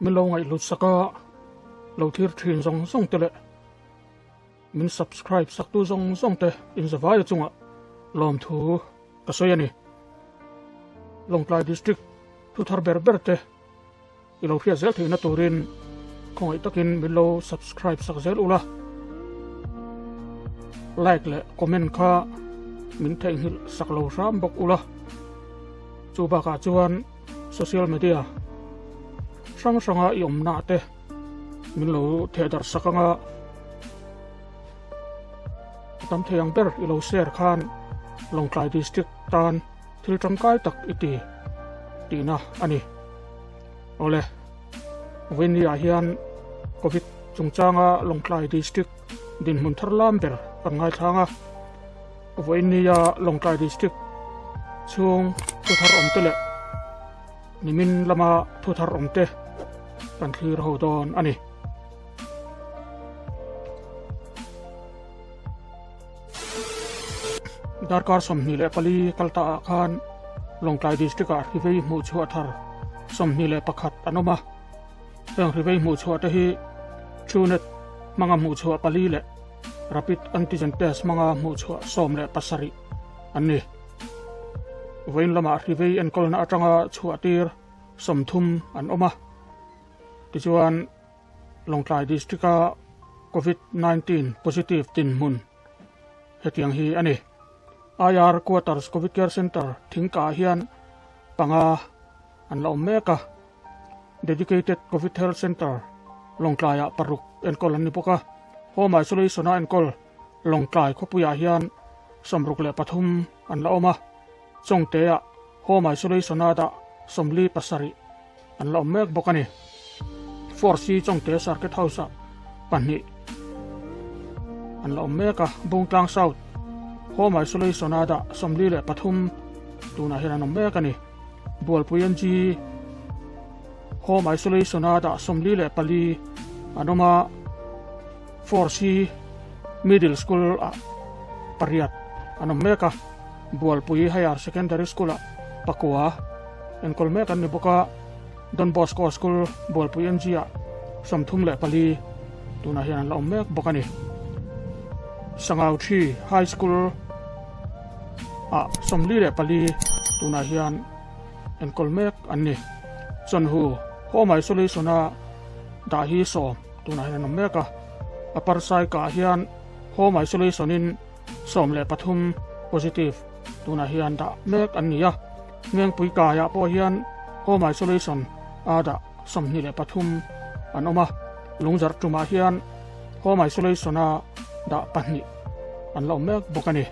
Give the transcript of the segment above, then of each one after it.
Min lo ngaihlut sak a, lo thlir thin zawng zawng te leh min subscribe sak tu zawng zawng te in za vaia chungah lawmthu ka sawi a ni. Lawngtlai District thu thar ber ber te i lo hriat zel theihna turin khawngaih takin min lo subscribe sak zel ula, like leh comment kha min theihnghilh sak lo hram bawk ula. Chu bakah chuan. Social media hrang hranga i awmnah te min lo theh darh sak anga a tam thei ang ber i lo share khan Lawngtlai District tan thil tangkai tak i ti tihna a ni. Awle Vaini ah hian Covid chungchanga Lawngtlai District dinhmun thar lam ber kan ngaithlang a. Vawinia Lawngtlai District chhung thuthar awmte leh Nimin lama thuthar awmte kan thlir ho dawn a ni. Darkar sawmhnih leh pali kal ta ah khan Lawngtlai District ah hrivei hmuh chhuah thar sawmhnih leh pakhat an awm a. Heng hrivei hmuh chhuah te hi Truenet hmanga hmuh chhuah pali leh Rapid antigen test hmanga hmuhchhuah sawm leh pasarih an ni. Vawiin lamah hrivei enkawlna atanga chhuahtir sawmthum an awm a. Tichuan Lawngtlai District-a Covid-19 positive tinhmun hetiang hi a ni. IR Quarters Covid Care Centre Thingkaa hian panga an la awm mek a, Dedicated Covid Health Centre Lawngtlaiah paruk enkawl an ni bawk a, Home Isolation-a enkawl Lawngtlai khawpuiah hian sawmruk leh pathum an la awm a, Chawngteah Home Isolation-a dah sawmli pasarih an la awm mek bawk a ni. Force hi Chawngte Circuit House-a pahnih an la awm mek a, Bungtlang South, Home Isolation a dah sawmli leh pathum tunah hian an awm mek a ni. Bualpui NG Home Isolation a dah sawmli leh pali an awm a, Force hi Middle School-ah pariat an awm mek a, Bualpui Higher Secondary School-ah pakua enkawl mek an ni bawk a. Don Bosco School Bualpui NG-a sawm thum leh pali tunah hian an la awm mek bawk a ni. Sangau Thi High School ah sawmli leh pali tunah hian enkawl mek an ni. Chonhu Home Isolation-a dah hi sawm tunah hian an awm mek a. Aparsaika hian Home Isolation-in Sawm leh pathum, positive, tunah hian dah mek an ni a. Ngengpui kaiah pawh hian home isolation a dah sawmhnih leh pathum an awm a. Lungzarh tumah hian home isolation a dah pahnih an la awm mek bawk a ni.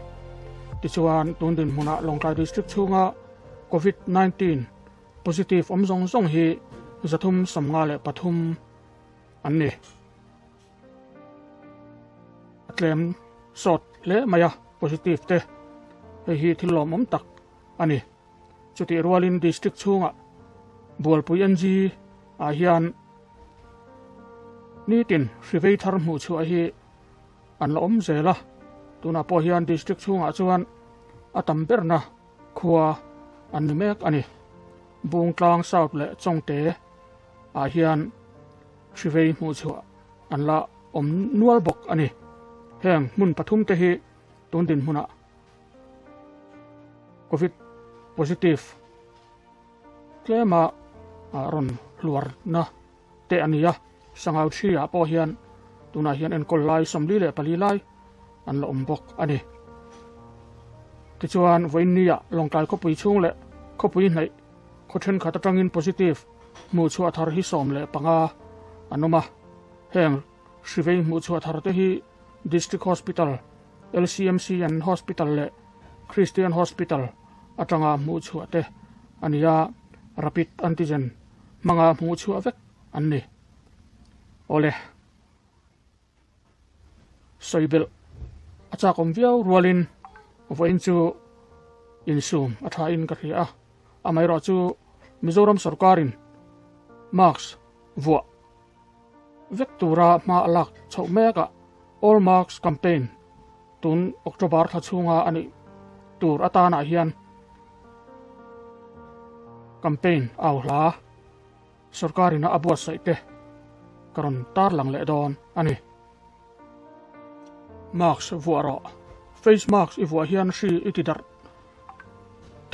Tichuan, tun dinhmunah Lawngtlai District chhunga Covid nineteen positive awm zawng zawng hi zathum sawm nga leh pathum an ni. Tlem sawt hle mai a positive te hei hi thil lawmawm tak a ni. Chutih rualin district chhunga Bualpui NG ah hian nitin hrivei thar hmuh chhuah hi an la awm zel a, tunah pawh hian district chhungah chuan a tam berna khua an ni mek a ni. Bungtlang South leh Chawngte ah hian. Hrivei hmuh chhuah an la awm nual bawk a ni. Heng hmun pathum te hi tun din hmunah Covid positive tlema rawn hluarna te a ni a, Sangau Three ah pawh hian tunah hian enkawl lai sawmli leh pali lai an la awm bawk a ni. Tichuan Vawinia Lawngtlai khawpui chhung leh khawpui hnaih Khaw thenkhat atangin positive hmuhchhuah thar hi sawm leh panga an awm a. Heng hrivei hmuhchhuah thar te hi District Hospital, LCMCN Hospital leh Christian Hospital atanga hmuhchhuah te a ni a, rapid antigen hmanga hmuhchhuah vek an ni. Awle. sawi belh a chak awm viau rualin vawiin chu insum a thain ka hria a, amaherawh chu Mizoram sawrkarin marks vuah vek tura hma a lak chhoh mek a, All Marks Campaign tun October thla chhunga a nih tur atanah hian campaign au hla. Sorkarin a buatsaih te ka rawn tarlang leh dawn a ni. Mask vuah rawh. Face mask i vuah hian hri i ti darh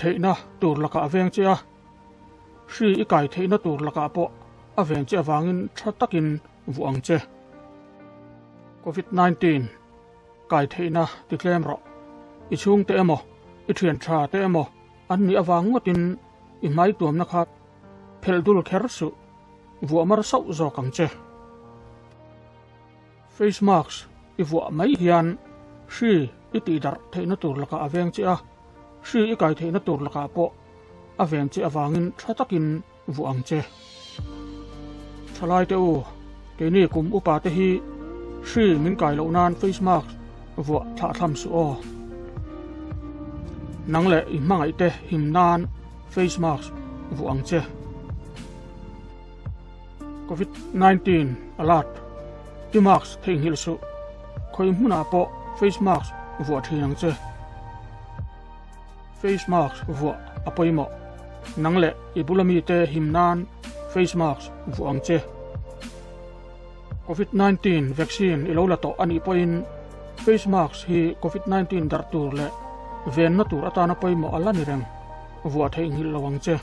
theihna tur lakah a veng che a, hri i kai theihna tur lakah pawh a veng che avangin tha takin vuah ang che. Covid nineteen kai theihna ti tlem rawh. I chhungte emaw, i thiantha te emaw an nih avang ngawtin i hmai tuamna kha. Phel dul kher suh. Vuah mar sauh zawk ang che. Face mask i vuah mai hian hri i tih darh theihna tur lakah a veng che a, hri i kai theihna tur lakah pawh a veng che avangin tha takin vuah ang che. Thalaite u, keini kum upa te hi hri min kai loh nan face mask vuah thlahthlam suh aw. Nang leh i hmangaih te him nan. Face mask vuah ang che. COVID-19 alert. Ti mask thei nghil su. Khoi hmuna po face mask vuah thin ang che. Face mask vuah apoi mo. Nang le ibulami te him nan face mask vuah ang che. Covid nineteen vaccine i lo la tawh a nih pawhin face mask hi Covid nineteen darh tur leh venna tur atana pawimawh a la ni reng vuah theih nghilh lo ang che.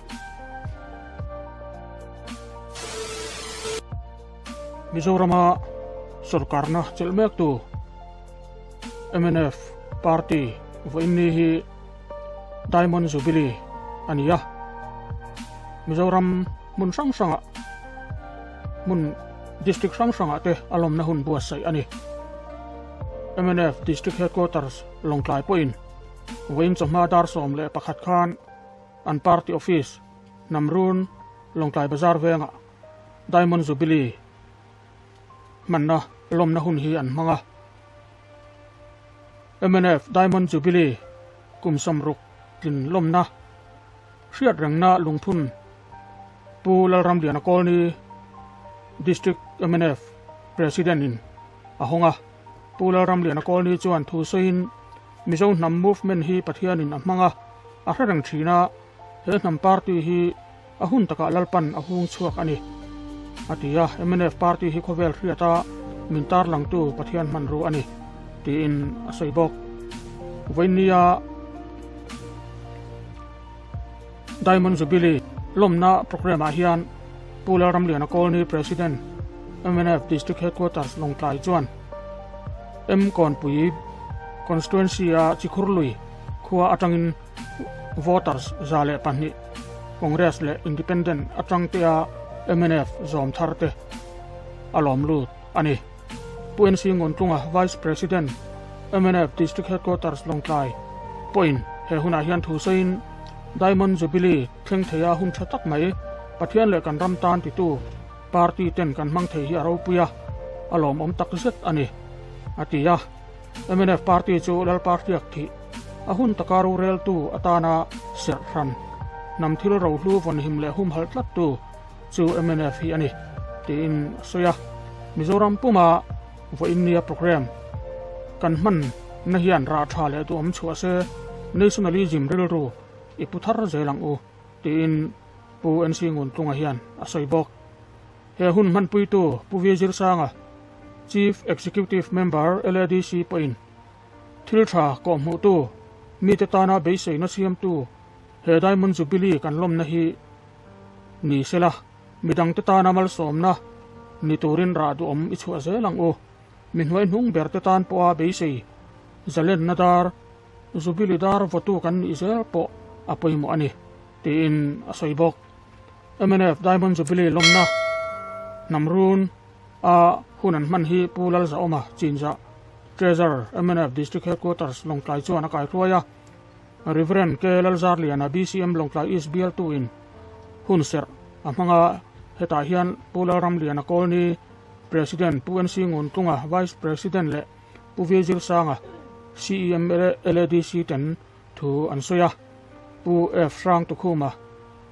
Mizorama sorkarna chelh mek tu mnf party vawiin ni hi Diamond Jubilee a ni a, Mizoram hmun hrang hranga, hmun district hrang hranga te a lawmna hun buatsaih a ni. MNF District Headquarters Lawngtlai pawhin Wayne chawhma dar sawm leh pakhat khan an party office Namrun Lawngtlai Bazar venga Diamond Jubilee hmanna lawmna hun hi an hmang a. MNF Diamond Jubilee kum sawm ruk tlin lawmna hriat rengna lungphun Pu Lalramliana Colony District MNF President in a hawng a, Pu Lalramliana Colony chuan thu sawiin Mizo hnam movement hi Pathianin a hmang a, a hre reng thin a, he hnam party hi, A hun takah Lalpan a hung chhuak a ni, a ti a, mnf party hi khawvel hriata min tarlangtu Pathian hmanrua a ni, tiin a sawi bawk. Vawinnia Diamond Jubilee lawmna programme-ah hian Pu Lalramliana Colony President mnf District Headquarters Lawngtlai chuan M Kawnpui Constituency-a Chikhurlui khua atangin Voters za leh pahnih, Congress leh Independent atangtea mnf zawm thar te a lawm lut a ni. Pu NC Ngawntlunga Vice President mnf District Headquarters Lawngtlai pawhin he hunah hian thu sawiin Diamond Jubilee thleng thei a hun tha tak mai, Pathian leh kan ram tan titu party ten kan hmang thei hi a ropui a, a lawmawm tak zet a ni, a ti a. MNF party chu Lalpa hriak thih a hun taka rureltu atana serhran nam thil rohlu vawnhim leh humhalh tlattu chu MNF hi a ni tiin a sawi a. Mizoram puma vawiinnia programme kan hman na hian rah tha leh duh awm chhuah se nationalism rilru i pu thar zel ang u tiin Pu NC Nguntlunga hian a sawi bawk. He hun hmanpuitu Pu Vi Zir Sanga Chief Executive Member LADC pawhin thil tha kawhhmuhtu, mite tana beiseina siamtu he Diamond Jubilee kan lawmna hi ni sela, midangte tana malsawmna ni turin rah duhawm i chhuah zel ang u. Mi hnuai hnung berte tan pawha beisei zalenna dar, Jubilee dar vawtu kan nih zel pawh a pawimawh a ni. tiin a sawi bawk. Mnf Diamond Jubilee lawmna hnam run a hun an hman hi Pu Lalzaawma, Chinzah, Treasure, mnf District Headquarters, Lawngtlai chuan a kaihruai a, Rev. K. Lalzarliana, BCM, Lawngtlai East bialtu in hun serh a hmang a, hetah hian Pu Lalramliana Colony, President, Pu NC Nguntlunga, Vice President leh Pu Virzilsanga, CEMA leh LADC ten, Thu an sawi a, Pu F. Hrang Tukhuma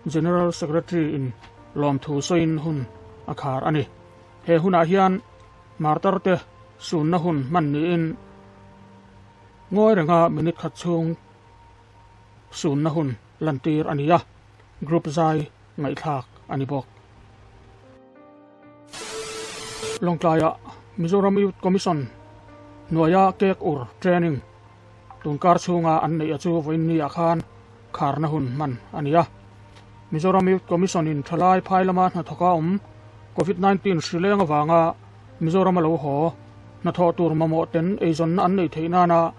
General Secretary in lawmthu sawiin hun a khar a ni. He hunah hian Martar te sunna hun hman niin ngawi renga minute khat chhung sunna hun lantir a ni a, group zai ngaihthlak a ni bawk. Lawngtlaia Mizoram Youth Commission hnuaia Kek Ur Training tun kar chhunga an neih a chu vawiinni ah khan kharna hun hman a ni a. Mizoram Youth Commission in thalai phai lama hnathawk a awm Covid nineteen hri leng avanga Mizoram a lo haw hnathawh tur mamawh ten eizawnna an nei theih nana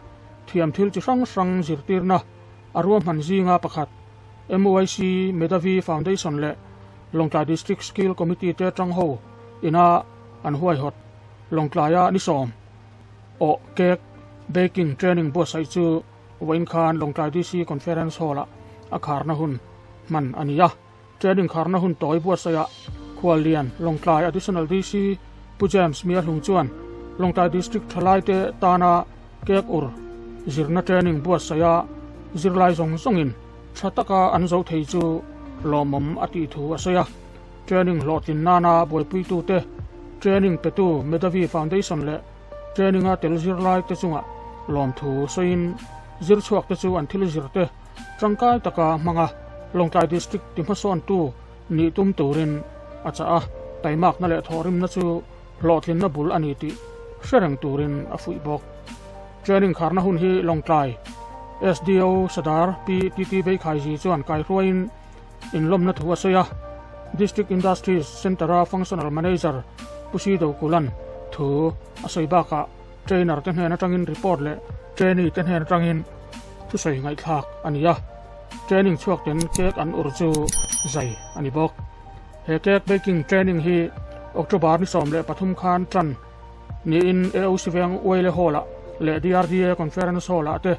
thiam thil chi hrang hrang zirtirna A ruahman zinga pakhat, MOIC Medavy Foundation leh Lawngtlai District Skill Committee te atang ho ina an huaihawt Lawngtlaia ni sawm awh cake baking training buatsaih chu vawiin khan Lawngtlai DC Conference Hall-ah a kharna hun hman a ni a. Train inkharna hun tawi Buatsaihah khua lian Lawngtlai Additional DC Pu James Miahlung chuan Lawngtlai District thalaite tana cake ur zirna training Buatsaia zirlai zawng zawngin tha taka an zoh thei chu lawmawm a tih thu a sawi a. Training hlawhtlin nana buaipui-tute, training petu Medavie Foundation leh training a tel zirlaite chunga lawmthu sawiin zirchhuakte chu an thil zirte, Tangkai taka hmanga Lawngtlai District ti hmasawntu nih tum turin a chah a, taimakna leh thawhrimna chu hlawhtlinna bul a ni tih hre reng turin a fuih bawk. Training kharna hun hi Lawngtlai SDO Sadar Pi Titi Veikhaiji chuan kaihruaiin inlawmna thu a sawi a, District Industries Centre-a Functional Manager Pu Sidokulan thu a sawi bakah, trainer te hnen atangin report leh trainee te hnen atangin thusawi ngaihthlak a ni a, training chhuakten cake an ur chu zai a ni bawk. He cake baking training hi October ni sawm leh pathum khan tan niin AOC Veng Uaile Hall-a leh DRDA Conference Hall-a te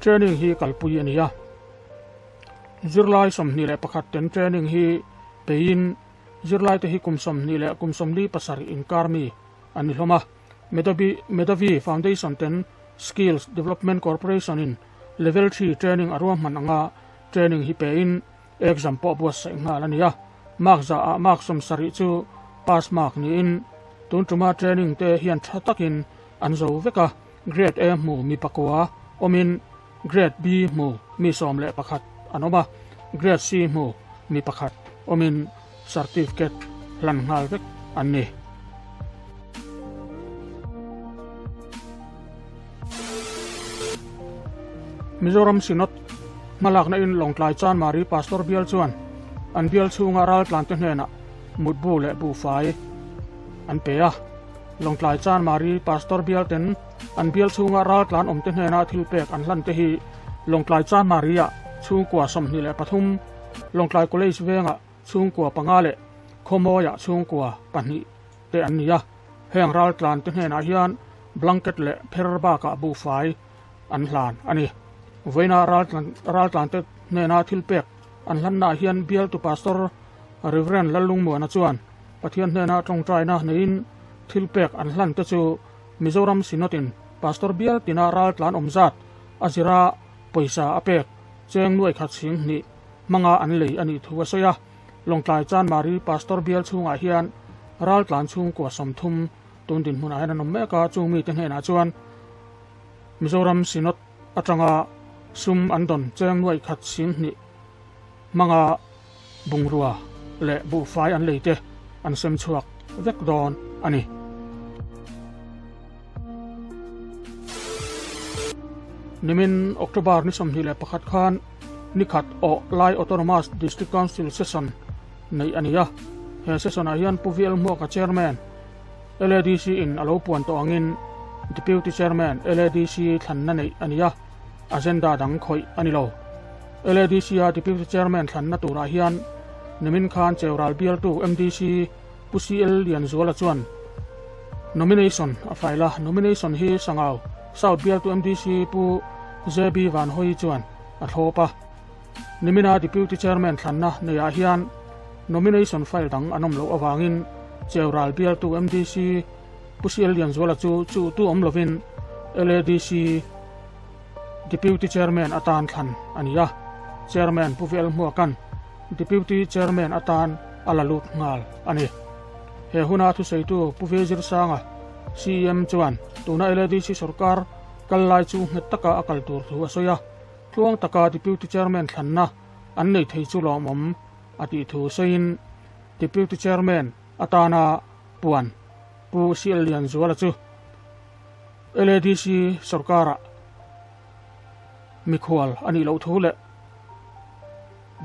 training hi kalpui a ni a. Zirlai sawmhnih leh pakhat ten training hi peiin zirlaite hi kum sawmhnih leh kum sawmli pasarih inkar mi an ni hlawm a. Medavi Medavi Foundation ten Skills Development Corporation in Level Three Training a ruahman ang a, Training hi pe in Exam pawh buatsaih nghal a ni a, Mark zah ah Mark sawm sarih chu Pass Mark ni in tun tuma Training te hian tha tak in an zo vek a, Grade A hmuh mi pakua awm in, Grade B hmu mi sawm leh pakhat an awm a, Grade C hmu mi pakhat awmin Certificate hlan nghal vek an ni. Mizoram Synod hmalakna in Lawngtlai Chanmari Pastor bial chuan an bial chhunga raltlante hnenah mutbu leh buhfai an pe a. Lawngtlai Chanmari Pastor bialten, An bial chhunga ral tlan awmte hnena thilpek an hlan te hi Lawngtlai Cha Maria chhungkua sawmhnih leh pathum, Lawngtlai College venga chhungkua panga leh Khawmawia chhungkua pahnih te an ni a. Heng ral tlan te hnenah hian blanket leh pher bakah buhfai an hlan a ni. Vawiina ral tlante hnena thilpek an hlannaah hian bialtu Pastor Rev. Lalung Muana chuan Pathian hnena tawngtaina neiin thilpek an hlan te chu, Mizoram Synod in Pastor bial tina ral tlan awm zat a zira pawisa a pek cheng nuai khat chhing hnih hmanga an lei a nih thu a sawi a. Lawngtlai Chanmari Pastor bial chhungah hian ral tlan chhungkua sawmthum tun dinhmunah hian an awm mek a, chung mite hnenah chuan Mizoram Synod atanga sum an dawn cheng nuai khat chhing hnih hmanga Bungrua leh buhfai an lei te an sem chhuak vek dawn a ni. Nimin October ni sawmhnih leh pakhat khan nikhat aw lai Autonomous District Council session neih a ni a, he session ah hian Pu Vielhmuaka Chairman LADC in a lo puan tawh angin Deputy Chairman LADC thlanna neih a ni a. agenda dang khawih a ni lo. LADC a Deputy Chairman thlanna turah hian nimin khan cheu ral bialtu MDC Pu CL Lianzuala chuan Nomination a file a, Nomination hi Sangau South bialtu MDC Pu JB Vanhawi chuan a thlawp a. Nimina Deputy Chairman thlanna neiah hian Nomination file dang an awm loh avangin cheu ral bialtu MDC Usial Lianzuala chu chu tu awm lovin LADC Deputy Chairman atan thlan a ni a, Chairman Pu Velhmuakan Deputy Chairman atan a la lut nghal a ni. He huna thuseitu Pu Vezirsanga CEM chuan tuna LADC sawrkar kal lai chu nghet taka a kal tur thu a sawi a, tluang taka Deputy Chairman thlanna an nei thei chu lawmawm a tih thu sawiin Deputy Chairman Atana puan Pu Sial Lian Zuala chu LADC sorkara mikhual a nih loh thu leh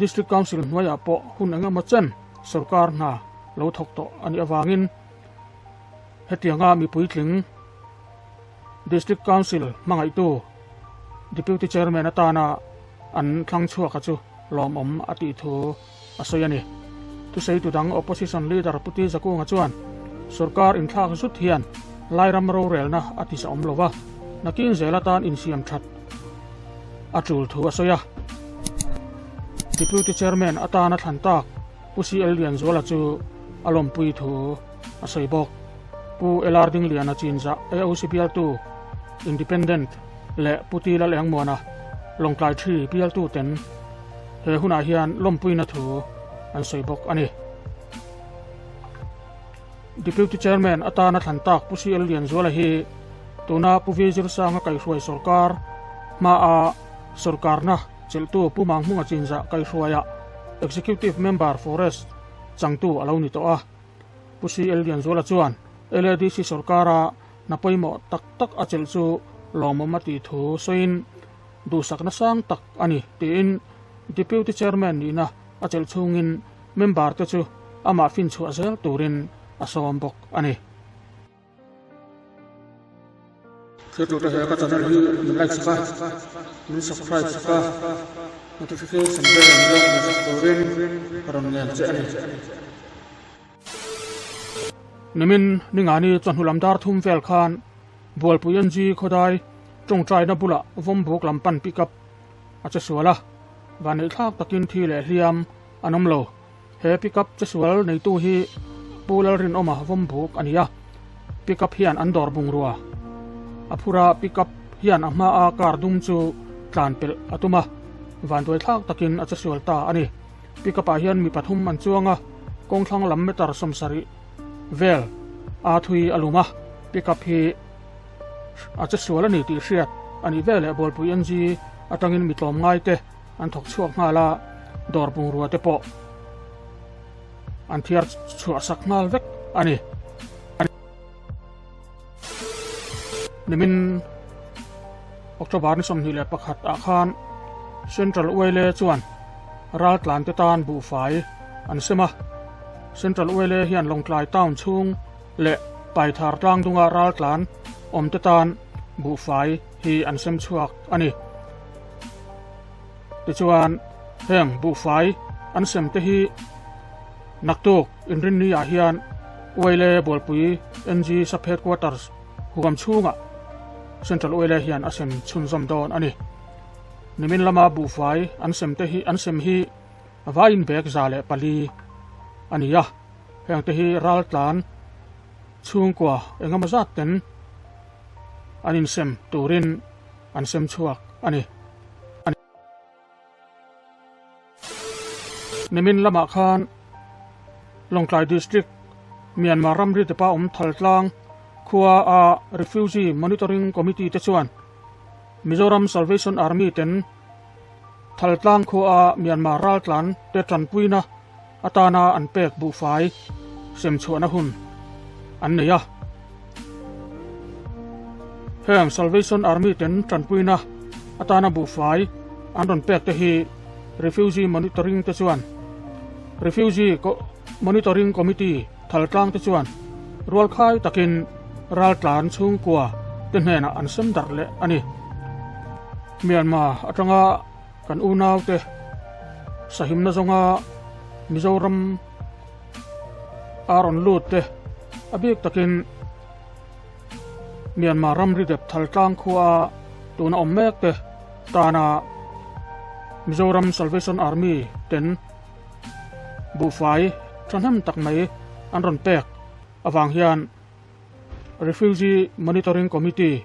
District Council hnuaiah pawh hun eng emaw chen sorkar hna lo thawk tawh a nih avangin hetianga mipuitling District Council hmangaihtu Deputy Chairman atana an thlangchhuaka chu lawmawm a tih thu a sawi a ni. Thuseitu dang Opposition Leader Pu Tizakunga chuan sorkar inthlak zut hian Lairam rorelna a tisawm lo va, nakin zel atan insiam that a tul thu a sawi a. Deputy Chairman atana thlan tak Pu CL Lianzuala chu a lawmpui thu a sawi bawk. Pu LR Dingliana chinzah AOC bialtu Independent leh Pu Ti Lal Engmuana lawngtlai thi bialtuten, he hunah hian lawmpuina thu an sawi bawk a ni. Deputy Chairman atana thlan tak Pu CL Lianzuala hi tuna Pu Vizir Sanga kaihruai sorkar hmaa sorkarna chelhtu Pu Mang Hmunga chinzah kaihruaia Executive Member Forest changtu a lo ni tawh a. Pu CL Lianzuala chuan LADC sorkara na pawimawh tak tak a chelh chu lawmawm a tih thu sawiin duhsakna sang tak a ni, tiin Deputy Chairman nihna a chelh chhungin member-te chu amah finchhuah zel turin a sawm bawk a ni. Thlir tute he ka channel hi min like chhuak a, min subscribe chhuak a, notification bell an zawk hmel chhuak turin ka rawn ngen che a ni. Nimin Ningani chawhnulam dar thum vel khan Bualpui NG khawdai tawngtaina bulah vawmbuk lam pan pick up a che sual a, vanneih thlak takin thi leh hliam an awm lo. He pick up che sual neitu hi Pu Lalrinawma vawmbuk a ni a, pick up hian an dawr bungrua a phur a, pick up hian a hma a car dum chu tlanpelh a tum a, vanduai thlak takin a che sual ta a ni. Pickup ah hian mi pathum an chuang a, kawng thlang lam meter sawm sarih vel a thui a lum a, pickup hi a che sual a ni tih hriat a nih vel leh bualpui NG atangin mi tlawm ngai te an thawk chhuak nghal a, dawr bungrua te pawh an thiar chhuah sak nghal vek a ni. nimin october ni sawmhnih leh pakhat ah khan central oile chuan ral tlan te tan buhfai an sem a central oile hian lawngtlai town chhung leh paithar tlang dunga ral tlan awm te tan buhfai hi an sem chhuak a ni Tichuan, heng buhfai an sem te hi naktuk inrinni ah hian Uaile Bualpui NG Sub Headquarters huam chhunga Central Uaile hian a sem chhunzawm dawn a ni. Nimin lama buhfai an sem te hi an sem hi vai inbek za leh pali a ni a, heng te hi raltlan chhungkua engemawzatten an insem turin, an sem chhuak a ni. Nimin lamah khan Lawngtlai District Myanmar ram ritepa awm Thaltlang khua a Refugee Monitoring Committee te chuan Mizoram Salvation Army ten Thaltlang khua a Myanmar raltlan te tanpuina Atana an pek buhfai semchhuahna hun an nei a. Heng Salvation Army ten tanpuina atana buhfai an rawn pek te hi Refugee Monitoring te chuan Refugee Monitoring Committee thaltlang te chuan rualkhai takin raltlan chhungkua te hnena an sem darh leh a ni. Myanmar atanga Kan unaute sahimna zawnga Mizoram a rawn lutte a bik takin Myanmar ram ridep thaltlang khua tun a awm mek te tana Mizoram Salvation Army ten buhfai thahnem tak mai an rawn pek avang hian Refugee Monitoring Committee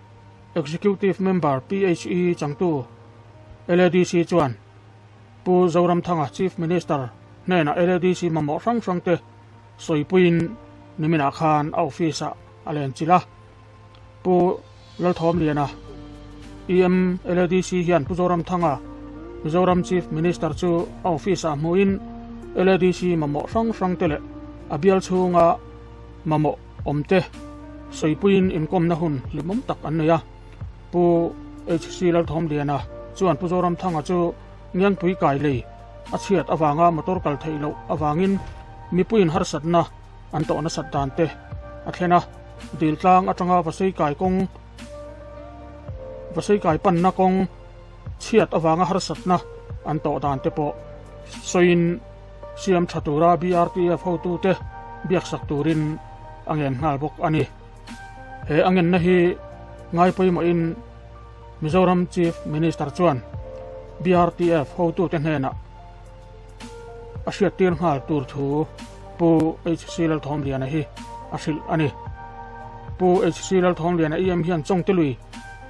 Executive Member PHE changtu LADC chuan Pu Zoramthanga Chief Minister hnena LADC mamawh hrang hrangte sawipuiin niminah khan a office ah a lenchilh a. Pu Lalthawmliana, EM LADC hian Pu Zoramthanga Mizoram Chief Minister chu a office ah hmuhin LADC mamawh hrang hrangte leh a bial chhunga mamawh, Awmte, sawipuiin inkawmna hun hlimawm tak an nei a. Pu HC Lalthawmliana chuan Pu Zoramthanga chu Ngiangpui kai lei a chhiat avanga motor kal theih loh avangin mipuiin harsatna an tawh nasat dan te a thlen a, dil tlang atanga vasei kai kawng vasei kai panna kawng chhiat avanga harsatna an tawh dan te pawh sawiin Siam tha tura BRTF hotute biaksak turin a ngen nghal bawk a ni. He a ngenna hi ngai pawimawhin Mizoram Chief Minister chuan BRTF hotute hnenah a hriattir nghal tur thu Pu HC Lalthawmliana hi a hrilh a ni. Pu HC Lalthawmliana em hian Chawngte Lui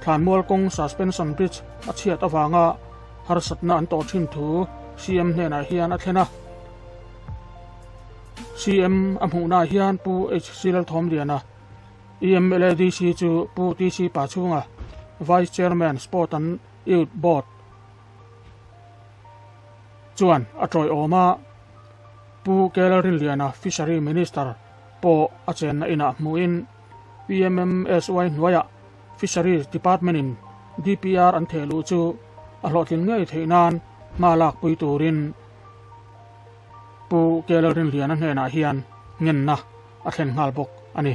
thlanmual kawng Suspension Bridge a chhiat avanga harsatna an tawh thin thu CM hnenah hian a thlen a. CM a hmuhnaah hian Pu HC Lalthawmliana, EMLA DC chu Pu TC Pachunga, Vice Chairman Sport and Youth Board chuan a tawihawm a, Pu Kela Rinliana Fishery Minister pawh a chenna inah hmuin PMMSY hnuaiah Fisheries Department-in DPR an theh luh chu a hlawhtlin ngei theih nan hma lakpui turin Pu Kyaw Lalrinhliana hnenah hian ngenna a thlen nghal bawk a ni.